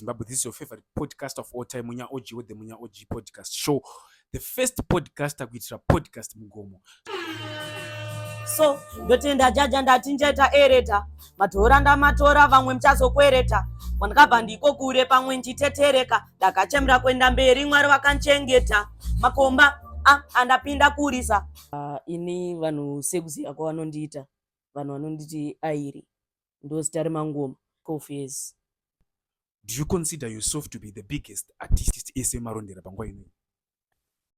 Zimbabwe. This is your favorite podcast of all time, Munya OG with the Munya OG podcast show. The first podcaster kuitira podcast mugomo. so ndotenda jaja ndati njeta ereta madhora ndamatora vamwe muchazokwereta kwandakabva ndiko kure pamwe ndichitetereka ndakachemera kuenda mberi mwari vakanchengeta makomba ah, andapinda kurisa uh, ini vanhu sekuziva kwavanondiita vanhu vanonditi airi ndozita remangoma cofes do you consider yourself to be the biggest artist ese marondera panguva inoyi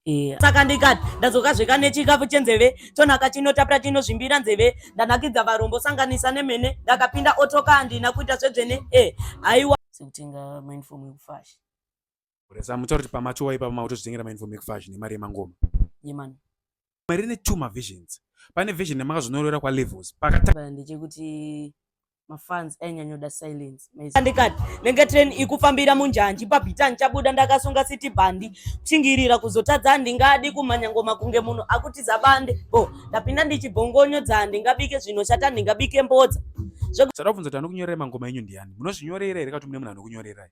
Yeah. saka ndikati ndadzoka zveka nechikafu chenzeve chonaka chinotapira chinozvimbira nzeve ndanakidza varombo sanganisa nemene ndakapinda otoka handina kuita zvedzvene e eh, haiwa sekutenga mainfom yekufashi resa mutori pamachuwa ipapa mautozvitengera mainfom yekufashi nemari yemangoma yemani rimwe rine two mavisions pane vision yamakazonyorera kwalevels pakatanga ndechekuti mafans ainyanyoda silence ndikati nenge train ikufambira munjanji pabhitani chabuda ndakasunga city bandi kuchingirira kuzotadza handingadi kumhanya ngoma kunge munhu akutiza bande bo ndapinda ndichibhongonyo dza handingabike zvinoshata handingabike mbodza zvekuti ndakubvunza kuti anokunyorera mangoma enyu ndiani munozvinyorera here kuti mune munhu anokunyorerai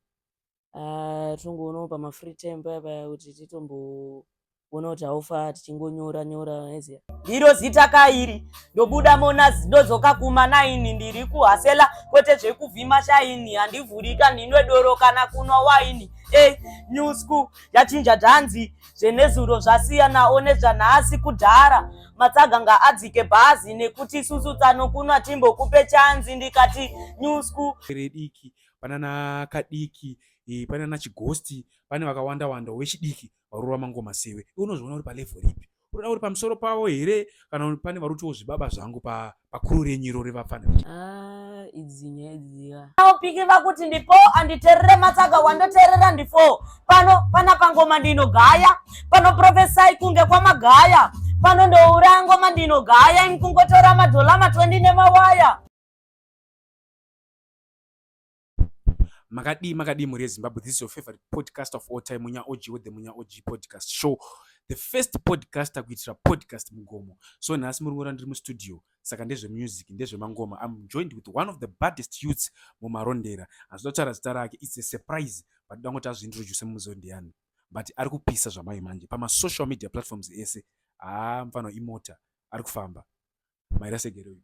ah, tongoonawo pamafree time paya paya kuti titombo kuona kuti haufa tichingonyora nyora eziya ndiro zita kairi ndobuda mona ndodzoka kuma naini ndiri kuhasela kwete zvekuvhima shaini handivhurika ndinwe doro kana kunwa waini e eh, new school yachinja dhanzi zvenezuro zvasiyanawo nezvanhasi kudhara matsaga ngaadzike bhazi nekuti isusu tsano kunwa timbokupe chanzi ndikati new school rediki panana kadiki e, panana chigosti pane vakawanda wanda wechidiki varorova mangoma sewe iwe unozviona uri palevel ripi unoda uri pamusoro pavo here kana pane vari kutiwo zvibaba zvangu pakuru pa renyu iro revapfana ah, idzi nyaya idziya aupiki vakuti ndipo anditerere matsaga wandoterera ndifo pano pana pangoma ndinogaya pano profesai kunge kwamagaya pano ndoura ngoma ndinogaya imkungotora madholama 20 nemawaya makadii makadii mhuri yezimbabwe this is your favorite podcast of all time munya og with the munya og podcast show the first podcast akuitira podcast mugomo so nhasi muri ngora ndiri mustudio saka ndezvemusic ndezvemangoma im joined with one of the baddest youths mumarondera hazvida kutaura zita rake its a surprise but ndoda ngoti azviintroduce mumuzivo ndiyani but ari kupisa zvamai manje pamasocial media platforms ese haa ah, mfano imota ari kufamba maira segeroid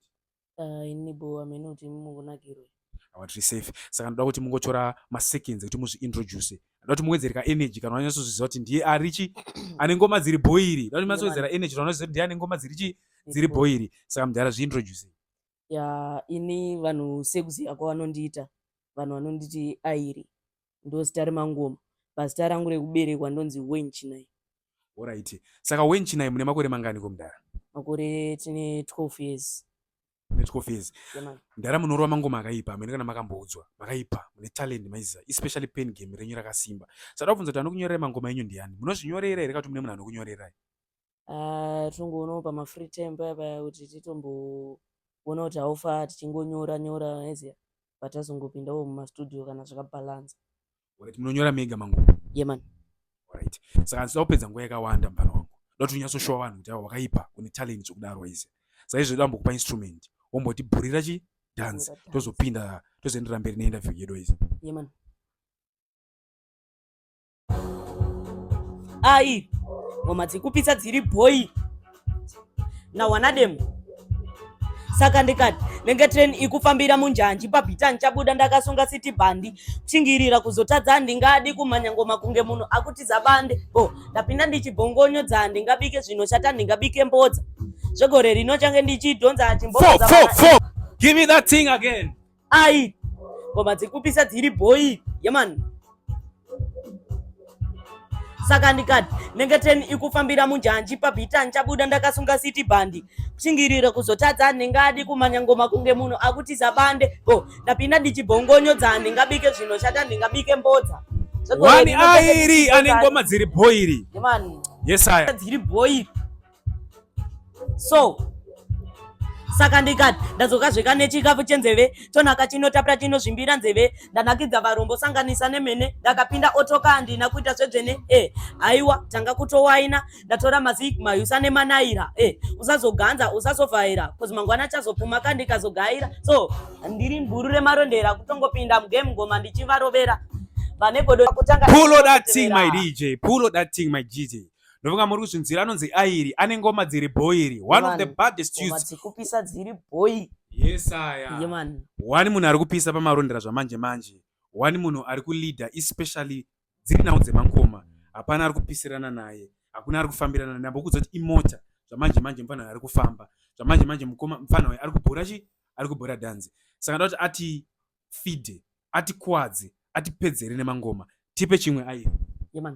Ah, ini bo hameno kuti mungonakirwa awa tiri safe saka ndoda kuti mungotora maseconds ekuti muzviintroduce ndoda kuti muwedzere ka energy kana wanyatsoziziva kuti ndiye ari chi ane ngoma dziri bhoiri ndoda kuti munyatsowedzera energy kana wanyatsoziva kuti ndiye ane ngoma dziri chi dziri bhoiri saka mudhara zviintroduce ya ini vanhu sekuziva kwavanondiita vanhu vanonditi airi ndozita remangoma pazita rangu rekuberekwa ndonzi wen chinai orit saka wen chinai mune makore mangani ko mdara makore tine 12 years ne 12 years mdara munorova mangoma akaipa amene kana makamboudzwa makaipa mune talent maiziva especially pen game renyu rakasimba sada kubvunza kuti anokunyorerai mangoma enyu ndiani munozvinyorera here kati mune munhu anokunyorerai ah, tongoonawo pamafree time paya paya kuti titomboona kuti haufa tichingonyora nyora eziya but azongopindawo mumastudio kana zvakabalansa Alright, munonyora mega mangu yeman right saka handisida kupedza nguva yakawanda mufana wangu ndoda kuti unyatsoshowa vanhu kuti awa wakaipa une talent zvokudaro waize saizvo ndoda kumbokupa instrument womboti bhurira chi dance Bhurira dance. tozopinda tozoenderera mberi neinterview yedu waize yeman Ai, ngoma dzekupisa dziri boy. Na wanadem. Saka ndikati nenge train ikufambira munjanji pabhita ndichabuda ndakasunga city bandi kuchingirira kuzotadza handingadi kumhanya ngoma kunge munhu akutiza bande bo oh, ndapinda ndichibhongonyo dza handingabike zvinoshata handingabike mbodza zvegore rino change ndichidhonza chimbo Give me that thing again. ai ngoma dziri kupisa dziri bhoyi yemani saka ndikati nengeteni ikufambira munjanji pabhita ndichabuda ndakasunga city bandi kushingirira kuzotadza ndingadi kumanya ngoma kunge munhu akutiza bande bo ndapinda ndichibhongonyodza ndingabike zvinoshata ndingabike mbodza wani airi ane ngoma dziri bhoiri yesaya dziri bhoiri so saka ndikati ndadzoka zveka nechikafu chenzeve chonaka chinotapira chinozvimbira nzeve ndanakidza varombo sanganisa nemene ndakapinda otoka handina kuita zvedzvene e haiwa tanga kutowaina ndatora mazik mayusa nemanaira e usazoganza usazovhaira kozi mangwana achazopfuma ka ndikazogaira so ndiri mburu remarondera kutongopinda mugame ngoma ndichivarovera vanegodo kutanga pull that thing my dj pull that thing my dj ndofunga muri kuzvinzwira anonzi airi ane ngoma dziri bhoiri one of the baddest dzikupisa dziri bhoi yesaya wani munhu ari kupisa pamarondera zvamanje manje wani munhu ari kuleader especially dziri nhau dzemangoma hapana ari kupisirana naye hakuna ari kufambirana naye ambokuudza kuti imota zvamanje manje mufana ari kufamba zvamanje manje mukoma mufana uyu ari kubhora chi ari kubhora dhanzi saka ndoda kuti ati fide ati kwadze ati pedzere nemangoma tipe chimwe airi yeah,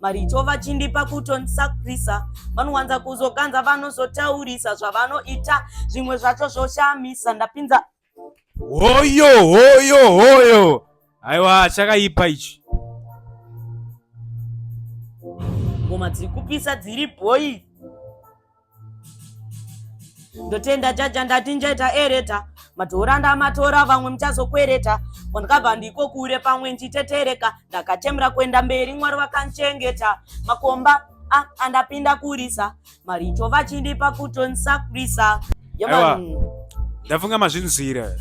maricho vachindipa kutondisakurisa vanowanza kuzokanza vanozotaurisa zvavanoita zvimwe zvacho zvoshamisa ndapinza hoyo hoyo hoyo aiwa chakaipa ichi ngoma dziri kupisa dziri bhoyi ndotenda jaja ndati njaita ereta matora ndamatora vamwe muchazokwereta kwandakabva ndiko kure pamwe ndichitetereka ndakachemera kuenda mberi mwari vakandichengeta makomba ah, andapinda kurisa maricho vachindipa kutondisakurisa ndafunga mazvinzwira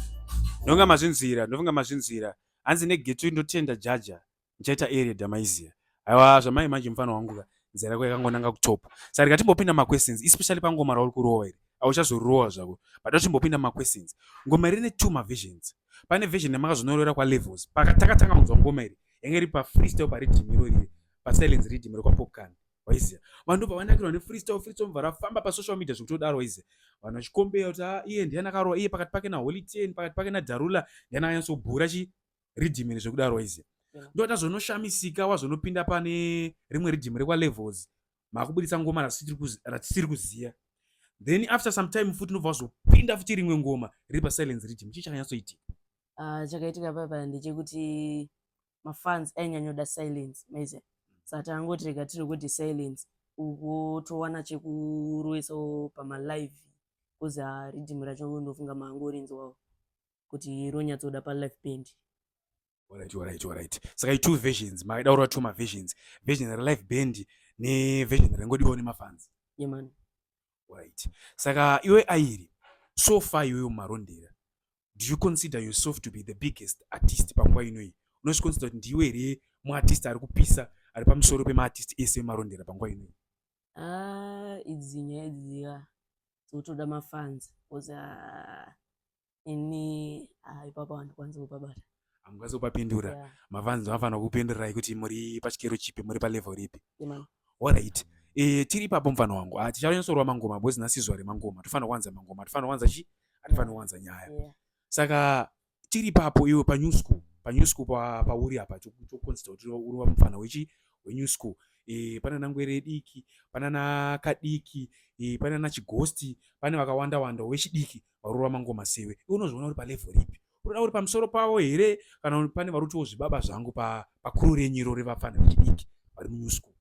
ndonga mazvinzwira ndofunga mazvinzwira hanzi negetu ndotenda jaja ndichaita area damaiziya aiwa zvamai manje mufana wangu ka nzira yako yakangonanga kutop saka ndikatimbopinda maquestions especially pangoma rauri kurova iri auchazorova zvako but atimbopinda maquestions ngoma iri ne two mavisions pane vision yamakazonorora kwalevels pakatakatanga kunzwa ngoma iri yange iri pafreestyle paridhimiro riri pasilence ridhimiro kwapopcan waiziya vanhu ndobva vanakirwa nefreestyle freestyle mubva rafamba pasocial media zvekutodaro waiziya vanhu vachikombeya kuti ah, iye ndiye nakarowa iye pakati pake naholy ten pakati pake nadarula ndiye nakanyatsobhura chi ridhimini zvekudaro izi ndoita zvonoshamisika wazvonopinda pane rimwe ridhimi rekwalevels maakubuditsa ngoma ratisiri kuziva then after some time futi unobva wazopinda futi rimwe ngoma riri pasilence ridhimi chii chakanyatsoitika ah, chakaitika papa ndechekuti mafans ainyanyoda silence maize saka tangoti rega tiri kuti silence uko towana chekuroisawo pamalive kuzi ah, ridhimi racho ndofunga maangorinzwawo kuti ronyatsoda palife band Alright, alright, alright. Saka two versions, maida kurwa two maversions. Version relive band neversion ringodiwa nemafans. Yeah man. Alright. Saka iwe Airi, so far iwe umarondera. Do you consider yourself to be the biggest artist panguva ino iyi? Unozviconsider kuti ndiwe here muartist ari kupisa ari pamusoro pemaartist ese emarondera panguva ino iyi? Ah, idzi nyaya idzi ya. Dzinotoda mafans. Because ah, ini ah, ipapa handikwanisi kupabata hamukwanisi kupapindura yeah. mavanzi vafana kupindurai kuti muri pachikero chipi muri palevel ripi yeah, alright e, tiri ipapo mufana wangu ah, tichanyasorwa mangoma bozi nhasi zuva remangoma tofanira kuwanza mangoma tofanira kuwanza chi hatifanira kuwanza nyaya yeah. saka tiri ipapo iwe panew school panew school pauri apa chokonzita kuti uri wamufana wechi wenew school e, pane nangwere diki pane nakadiki e, eh, pane nachigosti pane vakawanda wanda wechidiki varova mangoma sewe iwe unozviona uri palevel ripi unoda uri pamusoro pavo here kana pane varutiwo zvibaba zvangu pakuru renyiro revapfana vechidiki vari munew school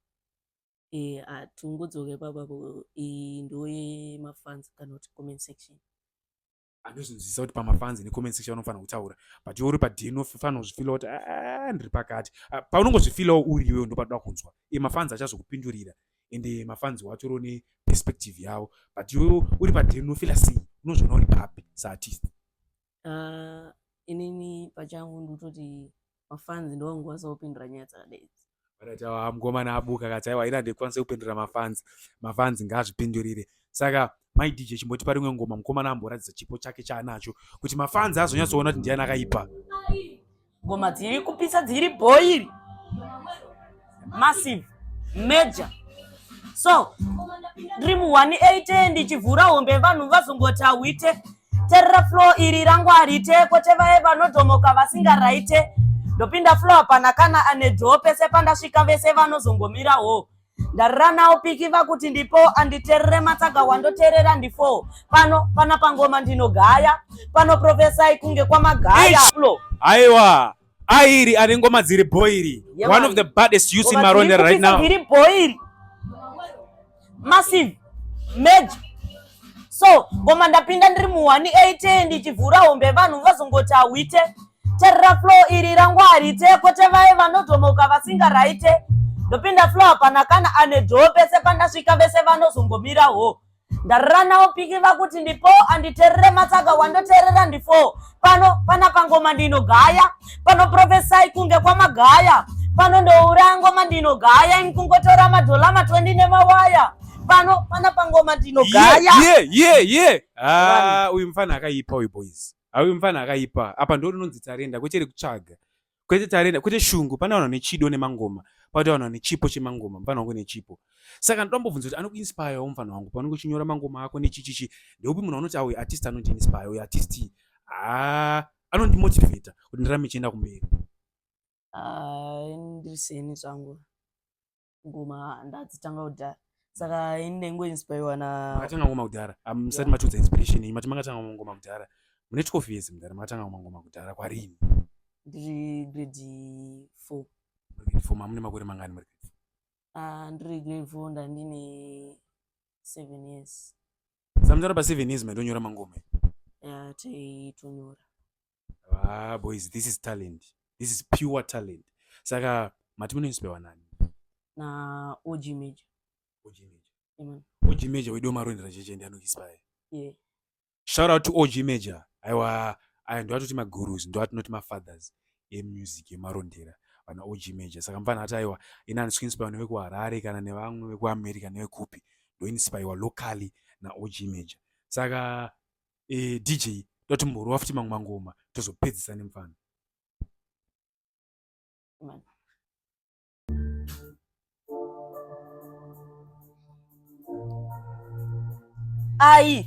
eh, hatingodzoke papapo iyi ndo yemafans kana kuti comment section andozvinzwisisa kuti pamafans necomment section anofanira kutaura but iwe uri padn unofanira kuzvifila kuti ah, ah, ah, ndiri pakati paunongozvifilawo uriwe ndopatoda kunzwa e mafans achazokupindurira ende mafanzi wacho ro ne perspective yavo but iwewe uri padhiri unofila sei unozviona uri papi saartist ah, inini pachangu ndototi mafanzi ndovangokwanisa kupindura nyaya dzakadaizi varati awa mukomana abuka kati aiwa ina ndikwanisa kupindura mafanzi mafanzi ngaazvipindurire saka mai dj chimbotipa rimwe ngoma mukomana amboratidza chipo chake chaanacho kuti mafanzi azonyatsoona kuti ndiani akaipa ngoma dziri kupisa dziri bhoiri massive major so ndiri mu 180 ndichivhura hombe vanhu vazongoti ahwite terera flow iri rangu harite kwete vaye vanodhomoka vasingaraite ndopinda flow hapana kana anedhoo pese pandasvika vese vanozongomira hoo ndarana upiki vakuti ndipo anditerere matsaga wandoterera ndifo pano pana pangoma ndinogaya pano profesai kunge kwamagaya aiwa airi ane ngoma dziri boiri yeah, one of the baddest youth in maronda right now iri boiri massive major so ngoma ndapinda ndiri mu 180 ndichivhura hombe vanhu vazongoti hawite terera flo iri rangu harite kwete vaye vanodhomoka vasingaraite ndopinda flo hapana kana ane dhoo pese pandasvika vese vanozongomirawo ndarira nawo piki vakuti ndipo anditerere matsaka wandoterera ndifo pano pana pangoma ndinogaya pano profesai kunge kwamagaya pano ndoura ngoma ndinogaya ini kungotora madhola matwendi nemawaya pano pana pangoma ndinogaya ye ye ye ah, uyu mfana akaipa uyu boys ah, uyu mfana akaipa apa ndo rinonzi tarenda kwechere kutsvaga kwete tarenda kwete shungu pane vanhu vane chido nemangoma pakuti vanhu vane chipo chemangoma mufanira kunge nechipo saka ndoda mbobvunza kuti anokuinspirewo mufanira wangu paunenge uchinyora mangoma ako nechichichi ndeupi munhu anoti auyu artist anondiinspire uyu artist haa anondimotivata kuti ndirame chienda kumberi ah, ndiri seni zvangu ngoma ndadzitanga kudhara saka ini ndaingoinspirwa na makatanga ngoma kudhara musati matiudza inspiration iyi mati makatanga ngoma kudhara mune twelve years mudhara makatanga ngoma ngoma kudhara kwarini ndiri grade four grade four mamune makore mangani muri grade four ah, ndiri grade four ndandine seven years samutara pa seven years maitonyora mangoma ya taitonyora ah boys this is talent this is pure talent saka mati munoispewa nani na og major og major Amen. og major wedu wemaroindera cheche ndi anoispaye yeah. shout out to og major aiwa aya ndoatoti magurus ndoatinoti mafathers emusic yemarondera vana og major saka mfana ati aiwa ini andisi kuinspaiwa nevekuharare kana nevamwe vekuamerica nevekupi ndoinspaiwa locally naog major saka e, dj toti mborova futi mamwe mangoma tozopedzisa nemfana ai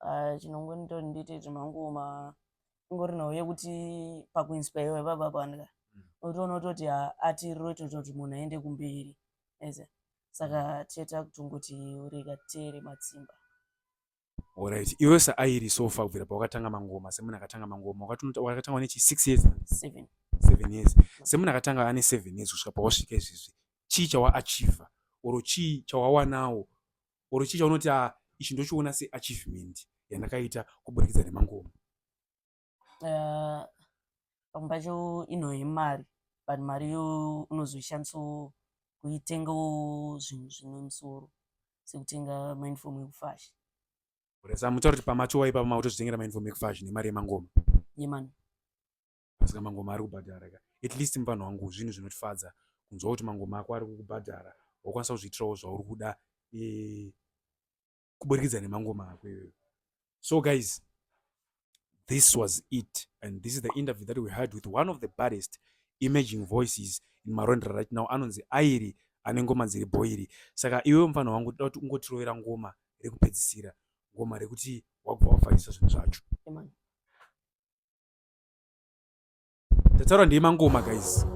ah, chinongonita kuti ndiite zvemangoma ingori nhau yekuti pakuinspirwa ipapa pandka mm. unotoona kutoti ah, ati riro itoita kuti munhu aende kumberi ese saka teta kutongoti urega tere matsimba Alright. Iwe sa airi so far kubvira pawakatanga mangoma semunhu akatanga mangoma wakatanga wane chi 6 years 7 7 years semunhu akatanga ane 7 years kusvika pawasvika izvizvi chii chawaachiever or chii chawawanawo or chii chaunoti a ah, ichi ndochiona seachievement yandakaita kuburikidza nemangoma eh, pamwe pacho ino yemari but mari yo unozoishandisa kuitengawo zvinhu zvine musoro sekutenga mainfomu ekufasha kuresa mutaura kuti pamachowa ipapa mautozvitengera mainfomu ekufasha nemari yemangoma yemani pasika mangoma ari kubhadhara ka at least muvanhu wangu zvinhu zvinotifadza kunzwa kuti mangoma ako ari kukubhadhara wakwanisa kuzviitirawo zvauri kuda e, kuburikidza nemangoma ako iyoyo so guys this was it and this is the interview that we had with one of the baddest emerging voices in marondera right now anonzi airi ane ngoma dziri bhoiri saka iwewo mufana wangu toda kuti ungotirovera ngoma rekupedzisira ngoma rekuti wabva wavharisa zvinhu zvacho Ndataura ndiye mangoma guys.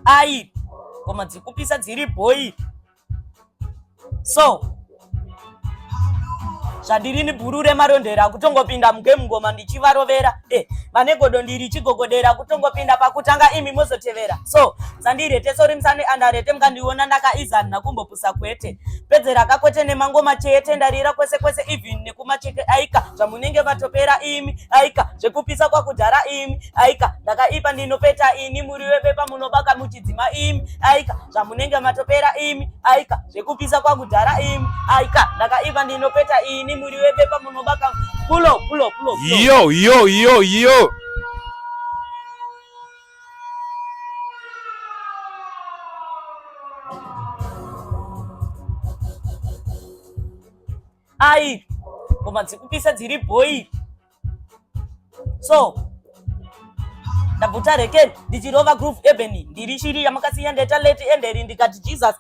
Ai, ngoma dzikupisa dziri boy. So, zvandirini bhuru remarondera kutongopinda mugame ngoma ndichivarovera e vane godo ndiri chigogodera kutongopinda pakutanga imi mozotevera so dzandirete sorimsane andarete mukandiona ndakaizanha kumbo kusa kwete pedze rakakwete nemangoma chete ndarira kwese kwese even nekuma chete aika zvamunenge vatopera imi aika zvekupisa kwakudhara imi aika ndakaipa ndinopeta ini muri webepa munobaka muchidzima imi aika zvamunenge matopera imi aika zvekupisa kwakudhara imi aika ndakaipa ndinopeta ini muri webepa munobaka pulo pulo pulo yo yo yo yo Ai, ngoma dzikupisa dziri bhoyi. So, ndabvuta reken ndichirova groove ebeni ndiri shiri yamakasiya ndeta leti enderi ndikati Jesus